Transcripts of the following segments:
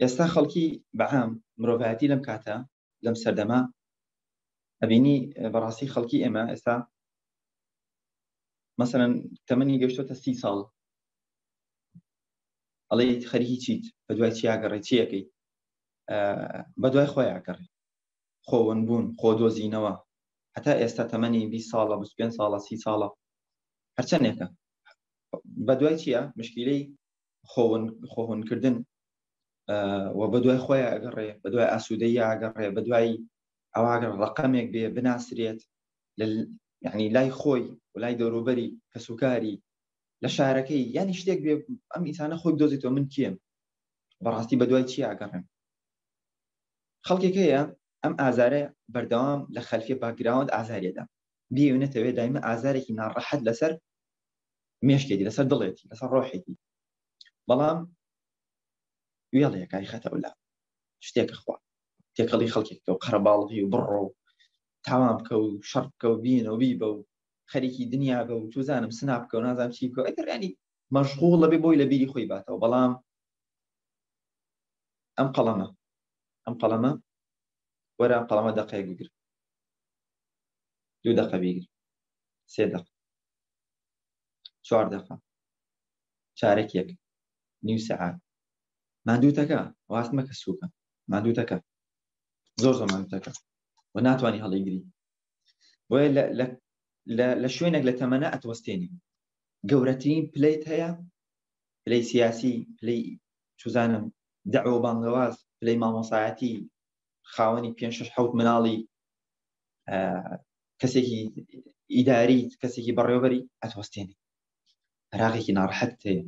ئێستا خەڵکی بە عام مرۆڤایەتی لەم کاتە لەم سەردەمە ئەبینی بەڕاستی خەڵکی ئێمە ئێستا مەسەن تەمەنی گەشتۆتە سی ساڵ ئەڵێ خەریکی چیت بە دوای چیاگەڕێ چیەکەی بە دوای خۆیاگەڕێ خۆون بوون خۆ دۆزینەوە هەتا ئێستا تەمەنی 20 ساڵە 25 ساڵە سی ساڵە هەرچەندێکە بە دوای چییە مشکیلەی خۆهونکردن و بە دوای خۆی ئەگەڕێ بە دوای ئاسوودەی ئاگەڕێ بە دوای ئەواگەر ڕقەمێک بێ بناسرێت یعنی لای خۆی و لای دەوروبەری کەسوکاری لە شارەکەی یانی شتێک بێ ئەم ئینسانە خۆی دۆزێتەوە من کێم بەڕاستی بە دوای چی ئاگەڕێن خەڵکێک هەیە ئەم ئازارە بەردەوام لە خەلفی باگراوند ئازارێدا بیونەتەوێت دایمە ئازارێکی ناڕەحەت لەسەر مێشکێتی لەسەر دڵێتی لەسەر ڕۆحێتی بەڵام وێڵەکانی خەتە ولا شتێکە خوا تێکەڵی خەڵکێکە و قەرەباڵغی و بڕۆ و تاوان بکە و شەڕ بکە و بینە و بیبە و خەریکی دنیا بە و توزانم سنا بکە و نازانام چی بکە ئەگەرانی مەشغوڵ لەبێ بۆی لە بیری خۆی باتەوە بەڵام ئەم قەڵەمە ئەم قەڵەمە وەرە قەڵەمە دەقەیەک بگر دوو دەقە بیگر سێ دەق چوار دەقە چارەکێک نیو سەعات مادووتەکە واست مەکە سووکە مادووتەکە زۆر زۆر مادووتەکە و ناتوانانی هەڵیگری بۆیە لە شوێنێک لە تەمەە ئەتوەستێنی گەورەترین پلیت هەیە پلی سیاسی پلی چزانم دەعوە بانگەواز پلی مامۆسایەتی خاوەنی پێ شش حوت مناڵی کەسێکی ئیداری کەسێکی بەڕێوبەری ئەتوەستێنی عراقێکی ناڕحەت هەیە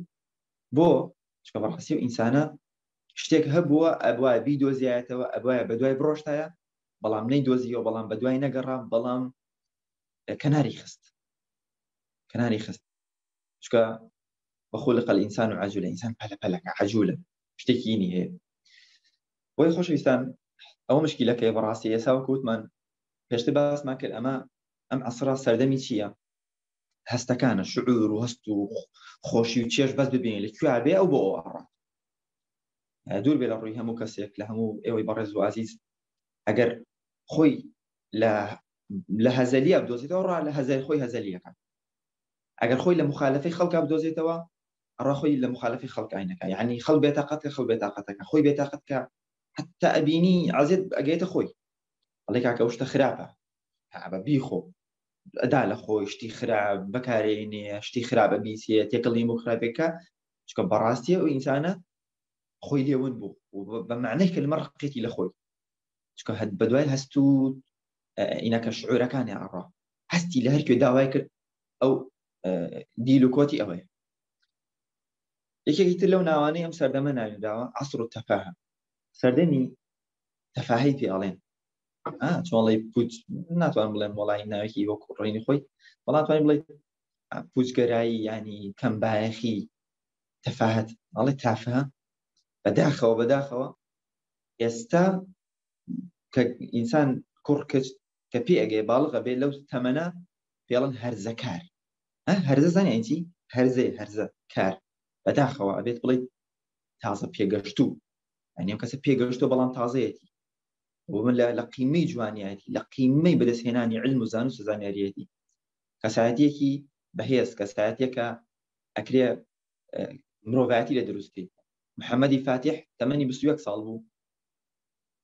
بۆ چکە بەڕاستی و ئینسانە شتێک هەبووە ئەبواە بی دۆزیایەتەوە ئەبواە بە دوای بڕۆشتایە بەڵام نەی دۆزیەوە بەڵام بە دوای نەگەڕام بەڵام کەناری خست کەناری خست چکە بەخۆ لە قەل ئینسان و عجولە ئینسان پەلە پەلەکە عجولە شتێکی نی هەیە بۆی خۆشەویستان ئەو مشکیلەکەی بەڕاستی ئێسا و کووتمان پێشتر باسمان کرد ئەمە ئەم عەسرە سەردەمی چییە هەستەکانە شعور و هەست و خۆشی و چێش بەس ببین لە کوێبێ ئەو بۆ ئەڕات دوور بێ لە ڕووی هەموو کەسێک لە هەموو ئێوەی بەڕێز و عزیز ئەگەر خۆی لە لە هەزەلیە بدۆزێتەوە ڕا لە هەزای خۆی هەزەلیەکە ئەگەر خۆی لە مخالفی خەڵک بدۆزێتەوە ڕاخۆی لە مخالفی خەڵکینەکە یعنی خەڵ بێتاقەت کە خەڵ بێتاقەتەکە خۆی بێتاقەت کە حتا ئەبینی عزیێت ئەگەێتە خۆی ئەڵێ کاکە ئەو شتە خراپە هەبە بیخۆ ئەدا لە خۆی شتی خرا بەکارێ نیە شتی خراپە بیسێ تێکەڵیم و خراپێکە چکە بەڕاستیە و ئینسانە خۆی لێون بوو بە معنەی کلمە ڕقێتی لە خۆی چکە هەت بە دوای هەست و ئینەکە شعورەکانی ئاڕا هەستی لە هەرکوێ داوای کرد ئەو دیل و کۆتی ئەوەیە یەکێکی تر لەو ناوانەی ئەم سەردەمە ناویداوە عسر و تەفاهە سەردەمی تەفاهی پێ ئەڵێن چۆڵی پوچ ناتوان بڵێن وڵی ناوێکی وەکو ڕێنی خۆی بەڵام توانین بڵێ پوچگەرایی ینی کەم باەخی تەفاهت ئەڵێ تافە بەداخەوە بەداخەوە ئێستا کە ئینسان کوڕ کچ کە پێ ئەگەی باڵغە بێ لەو تەمەە پێڵن هەرزەکار هەرزە زانیتی هەرزەی هەرزە کار بەداخەوە ئەبێت بڵیت تازە پێگەشتوو ئەنیو کەسە پێگەشتۆ بەڵام تازەیەتی ومن لە لە قیمەی جوانیایەتی لە قیمەی بەدەستهێنانی علم و زان و سزانیاریەتی کەسایەتێکی بەهێز کەسایەتێکە ئەکرێ مرۆڤایەتی لە دروستکەیت محەممەدی فاتح تەمەنی بسوەک ساڵ بوو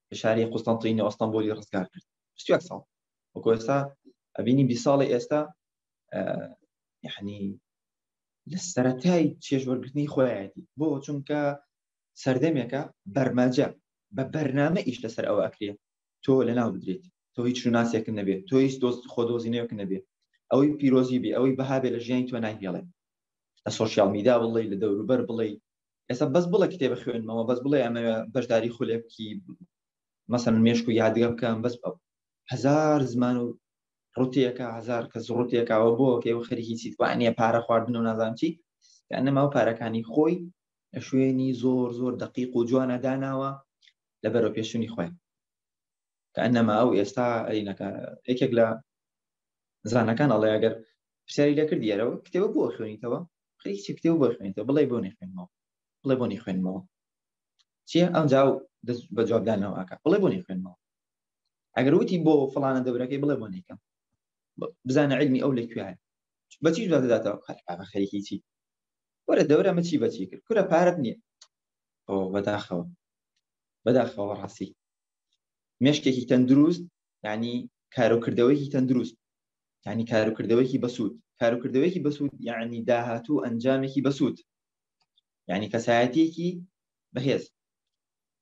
لە شاری قوستانتینە ئەستانبولی ڕزگار کرد بسوەک ساڵ وەکو ئێستا ئەبینی بی ساڵی ئێستا یعنی لە سەتای چێژوەرگرتنی خۆیەتی بۆ چونکە سەردەمێکە بەرمەجە بە بەرنامە ئیش لەسەر ئەوە ئەکرێت تۆ لەناو بدرێت تۆ هیچ شوناسێکن نەبێت تۆ هیچ دۆست خۆ دۆزینەوەک نەبێت ئەوەی پیرۆزی بێ ئەوەی بەهابێ لە ژیانی تۆ ناهێڵێ لە سۆشیال میدا بڵێ لە دەوروبەر بڵێ ئێستا بەس بڵێ کتێبە خوێنمەوە بەس بڵێ ئەمە بەشداری خولێکی مەسەن مێشک و یادگە بکەم بەس ئەو هزار زمان و ڕوتێکە هزار کەس ڕوتێکەوە بۆ کە و خەریکی چیتوانە پارە خواردن و نازانچی یانەما و پارەکانی خۆی شوێنی زۆر زۆر دقیق و جوانە داناوە لە بەرەو پێشونی خۆیان کە ئەنەما ئەو ئێستا ئەینەکە یەکێک لە زانەکان ئەڵێ ئەگەر پرسیاری لەکرد یارەوە کتێوە بۆ خوێنیتەوە خەریکی کتێو بۆ خوێنیتەوە بڵێ بۆ نەخوێنمەوە بڵێ بۆ نەخوێنمەوە چیە ئەم جاو دەست بە جوابدانەوەکە بڵێ بۆ نەخوێنمەوە ئەگەر وتی بۆ فلانە دەبرەکەی بڵێ بۆ نیکەم بزانە علمی ئەو لە کوێ بەچی داداتەوە خەریکی چی وەرە دەورە مچی بەچی کرد کورە پارەت نییە ئۆ بەداخەوە بەداخەوە ڕاستی مشکێکی تەندروست ینی کارۆکردەوەیکی تەندروست ینی کارکردەوەیکی بەسوود کارکردەوەیکی بەسوود یعنی داهاتوو ئەنجامێکی بەسوود ینی کەسایەتێکی بەهێز